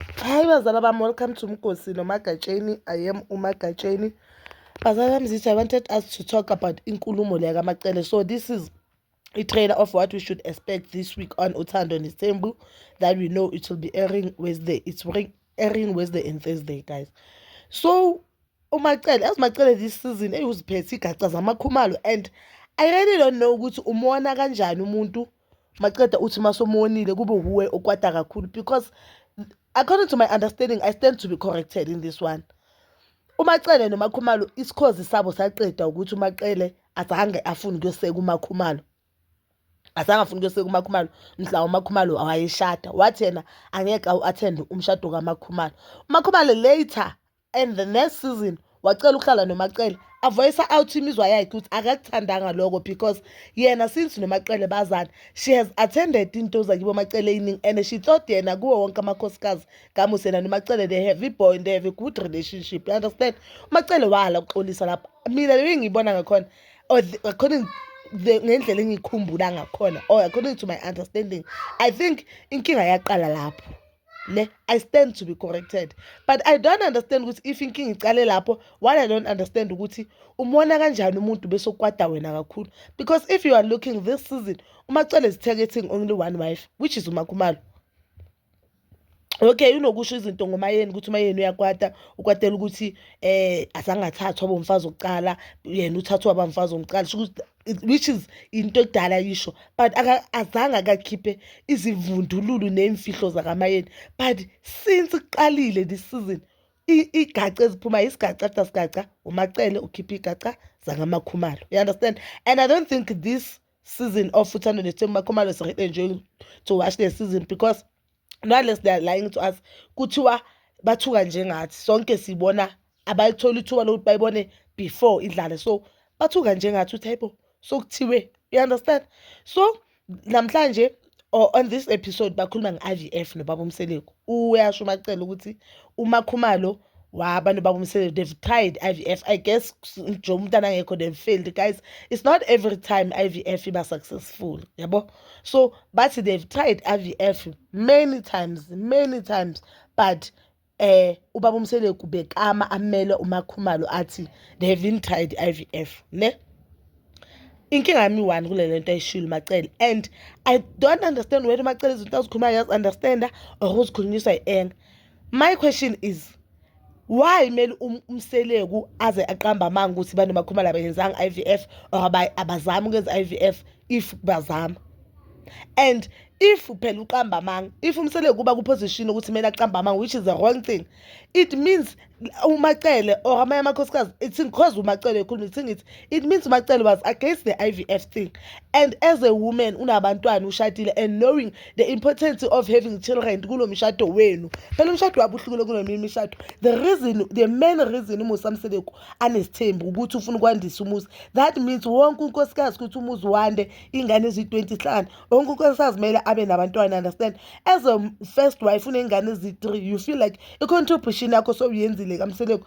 Hi bazala bam, welcome to Mkosi no Magatsheni. I am uMagatsheni. Bazala bam zithi I wanted us to talk about inkulumo leya kaMacele. So this is a trailer of what we should expect this week on Uthando Nesembu that we know it will be airing Wednesday. It's airing Wednesday and Thursday guys. So uMacele, as Macele this season eyuziphethe igaca zamakhumalo and I really don't know ukuthi umona kanjani umuntu maqeda uthi masomonile kube wuwe okwata kakhulu because according to my understanding i stand to be corrected in this one umacele nomakhumalo isikhozi sabo saqeda ukuthi umacele azange afune ukuyoseka umakhumalo azange afuna ukuyoseka umakhumalo mhla umakhumalo wayeshada wathi yena angeke awu-athende umshado kamakhumalo umakhumalo later and the next season wacela ukuhlala nomacele avoyisa out imizwa yakhe ukuthi akakuthandanga lokho because yena since nomacele bazana she has attended into zakibo macele eyiningi and she thought yena kuwo wonke amakhosikazi kamusi yena nomacele they have iboy and they have a good relationship you understand umacele wahala ukuxolisa lapho mina leyo ngiyibona ngakhona or according ngendlela engiyikhumbula ngakhona or according to my understanding i think inkinga yaqala lapho ne i stand to be corrected but i don't understand ukuthi if inkinga icale lapho what i don't understand ukuthi umona kanjani umuntu bese ukwada wena kakhulu because if you are looking this season umacele is targeting only one wife which is umakhumalo okay unokusho izinto ngomayeni ukuthi umayeni uyakwata ukwatela ukuthi eh asangathathwa bomfazi okuqala yena uthathwa abamfazi omqala sho ukuthi which is into edala yisho but azange akakhiphe izivundululu ney'mfihlo zakamayeni but since kuqalile this season igaca eziphuma yisigaca after sigaca umacele ukhiphe igaca zangamakhumalo you understand and i don't think this season of uthando nesithembu makhumalo is really enjoying to watch the season because nale they're lying to us kuthiwa bathuka njengathi sonke sibona abalitholi ithuba lokuthi bayibone before idlale so bathuka njengathi uthi hayibo so kuthiwe you understand so namhlanje or on this episode bakhuluma nge-i v f nobaba umseleku uyasho umacela ukuthi umakhumalo wa abantu babomsebenzi they've tried i-vf i guess nje umuntu anangekho they failed guys it's not every time i-vf iba successful yabo so bathi they've tried i-vf many times many times but eh ubaba umseleku bekama amele umakhumalo athi they haven't tried i-vf ne inkinga yami one kule lento ayishilo macele and i don't understand whether macele izinto azikhulumayo yazi-understanda or uzikhulunyiswa yi-enga my question is why mele um, umseleku aze aqamba amanga ukuthi bani bakhumala abayenzanga i v f or abazami ukwenza i v f if bazama and if phela uqamba amanga if umseleku uba kuposition ukuthi kumele aqamba amanga which is the wrong thing it means umacele or amanye amakhosikazi ithingi cause umacele ekhuluma ithingi ithi it means umacele was against the ivf thing and as a woman unabantwana ushadile and knowing the importance of having children kulo mshado wenu phela umshado wabo uhlukile kuneminye imishado the reason the main reason umusa mseleku anesithembu ukuthi ufuna ukwandisa umuzi that means wonke unkosikazi ukuthi umuzi wande ingane eziyi-20 hlanu wonke unkosikazi kumele abe nabantwana understand as a first wife unengane eziyi-3 you feel like i-contribution yakho sowuyenzile kamseleku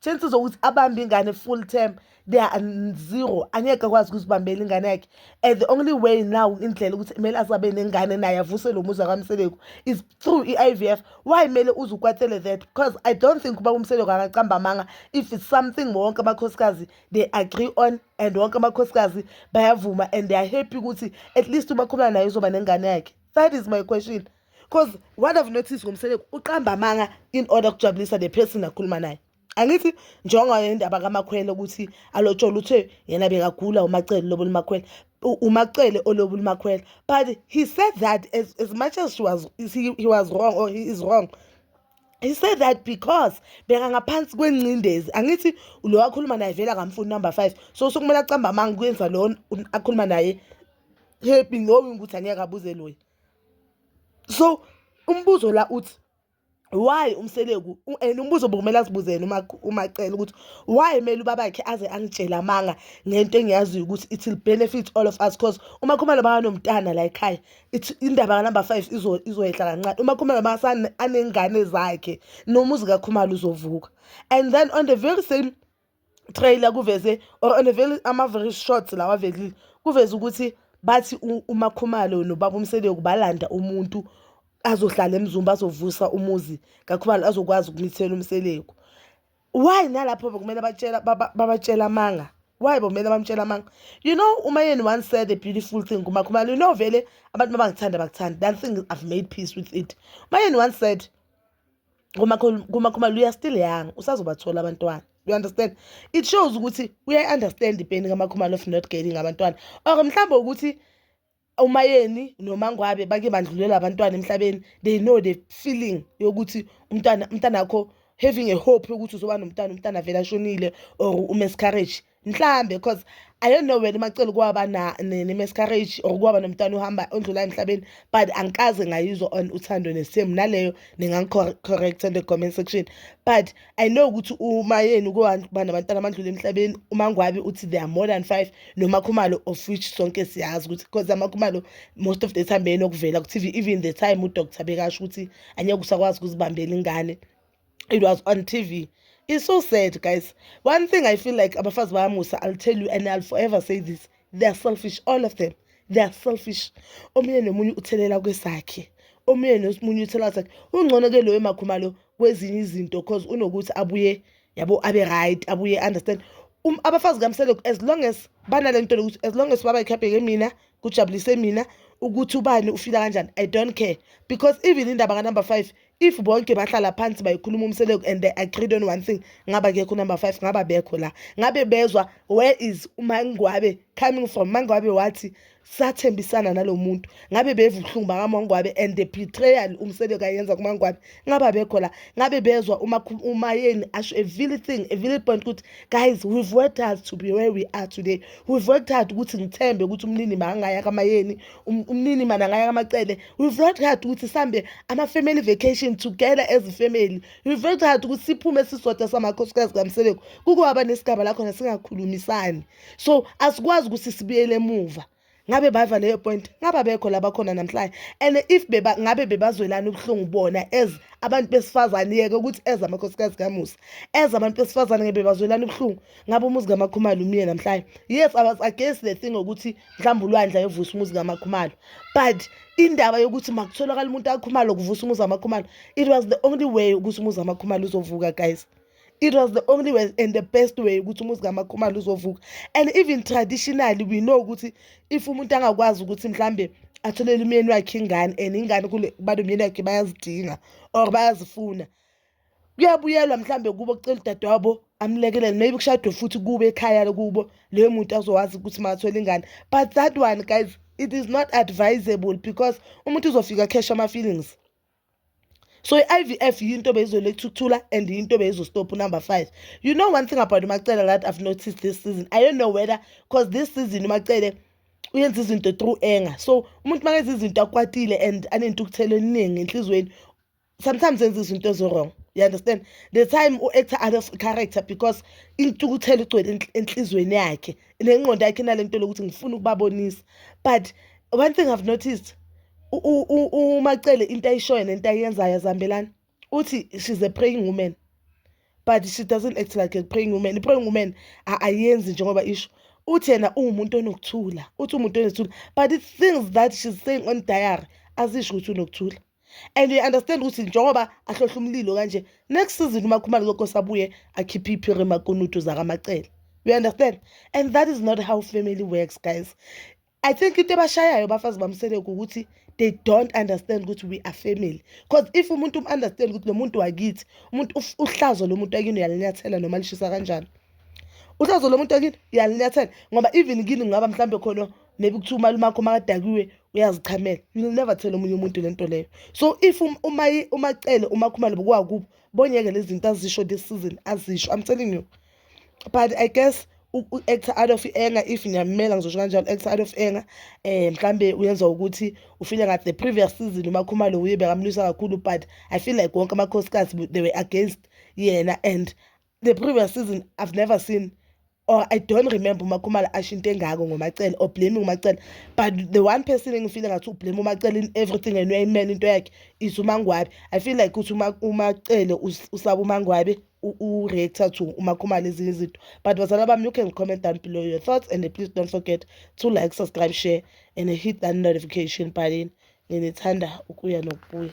chances zokuthi abambe ingane full term they are zero angeke akwazi ukuzibambela ingane yakhe and the only way now indlela ukuthi kumele azabe nengane naye avuse lo muzi akamseleku is through i-i v f why kumele uze ukwatele that because i don't think uba umseleku angacamba amanga if it's something wonke amakhosikazi they agree on and wonke amakhosikazi bayavuma and they are happy ukuthi at least ubakhuluma naye uzoba nengane yakhe that is my question cause what i've noticed ngomseleku uqamba amanga in order kujabulisa the person akhuluma naye angithi njengoye indaba kamakhwele ukuthi alotshola uthe yena bekagula umacele lobo limakhwele umacele olobo limakhwele but he said that as, as much as she was he, he was wrong or he is wrong he said that because beka ngaphansi kwengcindezi angithi lo wakhuluma naye vele akamfuni number 5 so sokumele acamba amanga kuyenza lo akhuluma naye happy knowing ukuthi angeke abuze loyi so umbuzo la uthi why umseleku and umbuzo bokumele azibuzele uma umacela ukuthi why mele ubabakhe aze angitshela amanga ngento engiyaziyo ukuthi it will benefit all of us because uma khumalo banganomntana la ekhaya indaba kanumber five izoyehla kancane uma khumalo bangasanengane zakhe nomuzi kakhumalo uzovuka and then on the very same trailer kuveze or on a very ama very short lawa velile kuveze ukuthi bathi umakhumalo nobaba umseleku balanda umuntu azohlala emzumba azovusa umuzi kakhumalo azokwazi ukumithela umseleku why nalapho bekumele batshela babatshela amanga why bomele bamtshela amanga you know umayeni once said a beautiful thing kumakhumalo you know vele abantu mabangithanda bakuthanda that thing i've made peace with it umayeni once said kuma kuma kuma you are still young usazobathola abantwana you understand it shows ukuthi uyayi understand ipeni kamakhumalo of not getting abantwana or mhlawumbe ukuthi umayeni nomangwabe bake bandlulela abantwana emhlabeni they know the feeling yokuthi umntana umntana wakho having a hope yokuthi uzoba nomntana umntana vele ashonile or umiscarriage mhlambe cause i don't know wena umacela ukuwaba ne-miscarriage or ukuwaba nomntwana uhamba ondlula emhlabeni but angikaze ngayizwa on uthando nesimo naleyo ningangicorrecta in the comment section but i know ukuthi umayeni ukuba nabantwana abandlula emhlabeni umangwabi uthi they are more than five nomakhumalo of which sonke siyazi ukuthi because amakhumalo most of the time beyenokuvela ku-tv even the time udoctor bekasho ukuthi anyeke usakwazi ukuzibambela ingane it was on tv it's so sad guys one thing i feel like abafazi bayamusa i'll tell you and i'll forever say this they are selfish all of them they are selfish omunye nomunye uthelela kwesakhe omunye nomunye uthelela sakhe ungcono ke loyo makhumalo kwezinye izinto cause unokuthi abuye yabo abe right abuye understand um, abafazi kamseleko as long as banale nto lokuthi as long as baba ikhapheke mina kujabulise mina ukuthi ubani ufila kanjani i don't care because even indaba kanumber five if bonke bahlala phansi bayikhuluma umseleku and they agreed on one thing ngaba kekho number five ngaba bekho la ngabe bezwa where is umangwabe coming from mangwabe wathi sathembisana nalo muntu ngabe beva ubuhlungu bakamangwabe and the betrayal umseleku ayenza kumangwabe ngaba bekho la ngabe bezwa umayeni asho a vile thing a vile point ukuthi guys we've worked hard to be where we are today we've worked hard ukuthi ngithembe ukuthi umnini makangaya kamayeni Um, umnini mana ngaya kamacele we've worked hard ukuthi sihambe ama-family vacation together as family we've worked hard ukuthi siphume sisodwa samakhosikazi kamsebeko kukuhaba nesigaba lakhona singakhulumisani so asikwazi ukuthi sibuyele emuva ngabe bava leyo point ngaba bekho labakhona namhlanje and if beba ngabe bebazwelana ubuhlungu bona as abantu besifazane yeke ukuthi as amakhosikazi kamusa as abantu besifazane ngebe bazwelana ubuhlungu ngabe umuzi kamakhumalo umile namhlanje yes i was against the thing ukuthi mhlawumbe ulwandle ayovusa umuzi kamakhumalo but indaba yokuthi makutholakala umuntu akhumalo kuvusa umuzi kamakhumalo it was the only way ukuthi umuzi kamakhumalo uzovuka guys it was the only way and the best way ukuthi umuzi kamakhumalo uzovuka and even traditionally we know ukuthi if umuntu angakwazi ukuthi mhlambe atholele umyeni wakhe ingane and ingane kule balo myeni wakhe bayazidinga or bayazifuna kuyabuyelwa mhlambe kubo kucela udadewabo amlekelele maybe kushadwe futhi kube ekhaya lokubo leyo muntu azowazi ukuthi makathola ingane but that one guys it is not advisable because umuntu uzofika cash ama-feelings so i-ivf yinto beyizolethukuthula and yinto beyizostop number five you know one thing about umacele that i've noticed this season i don't know whether because this season umacele uyenza izinto through anger so umuntu makenza izinto akwatile and anentukuthelo eningi enhliziyweni sometimes enza izinto ezo-wrong you understand the time u-actor out of character because intukuthelo igcwele enhlizweni yakhe nengqondo yakhe inale nto lokuthi ngifuna ukubabonisa but one thing i've noticed umacele into ayishoyo nento ayenzayo azihambelani uthi she's a praying woman but she doesn't act like a praying woman i-praying woman ayenzi njengoba isho uthi yena uwumuntu onokuthula uthi umuntu onokuthula but the things that she's saying on diary azisho ukuthi unokuthula and you understand ukuthi njengoba ahlohla umlilo kanje next season umakhumalo zokose abuye akhiphe iphiri makunutu zakamacele you understand and that is not how family works guys i think into ebashayayo bafazi bamseleku ukuthi they don't understand ukuthi we are family because if umuntu um-understand ukuthi lo muntu wakithi umuntu uhlazo lo muntu akini uyalinyathela noma lishisa kanjani uhlazo lo muntu akini uyalinyathela ngoba even kini ngaba mhlawumbe khona maybe kuthiwa umalume akho makadakiwe uyazichamela you'll never tell omunye umuntu le nto leyo so if um, uma uma cele uma khumalo bokwakubo bonyeke lezi zinto azisho this season azisho i'm telling you but i guess u-actor out of anger if ngiyamela ngizosho kanjalo actor out of anger eh mhlambe uyenza ukuthi ufile ngathi the previous season umakhumalo uye bekamlwisa kakhulu but i feel like wonke amakhosikazi they were against yena and the previous season i've never seen or i don't remember umakhumalo asho into engako ngomacele or blaming umacele but the one person engifile ngathi ublame umacele in everything and uyayimela into yakhe is umangwabe i feel like ukuthi umacele usaba umangwabe u-reactor to umakhumalo ezinye izinto but bazala bami you can comment down below your thoughts and please don't forget to like subscribe share and hit that notification button nginithanda ukuya nokubuya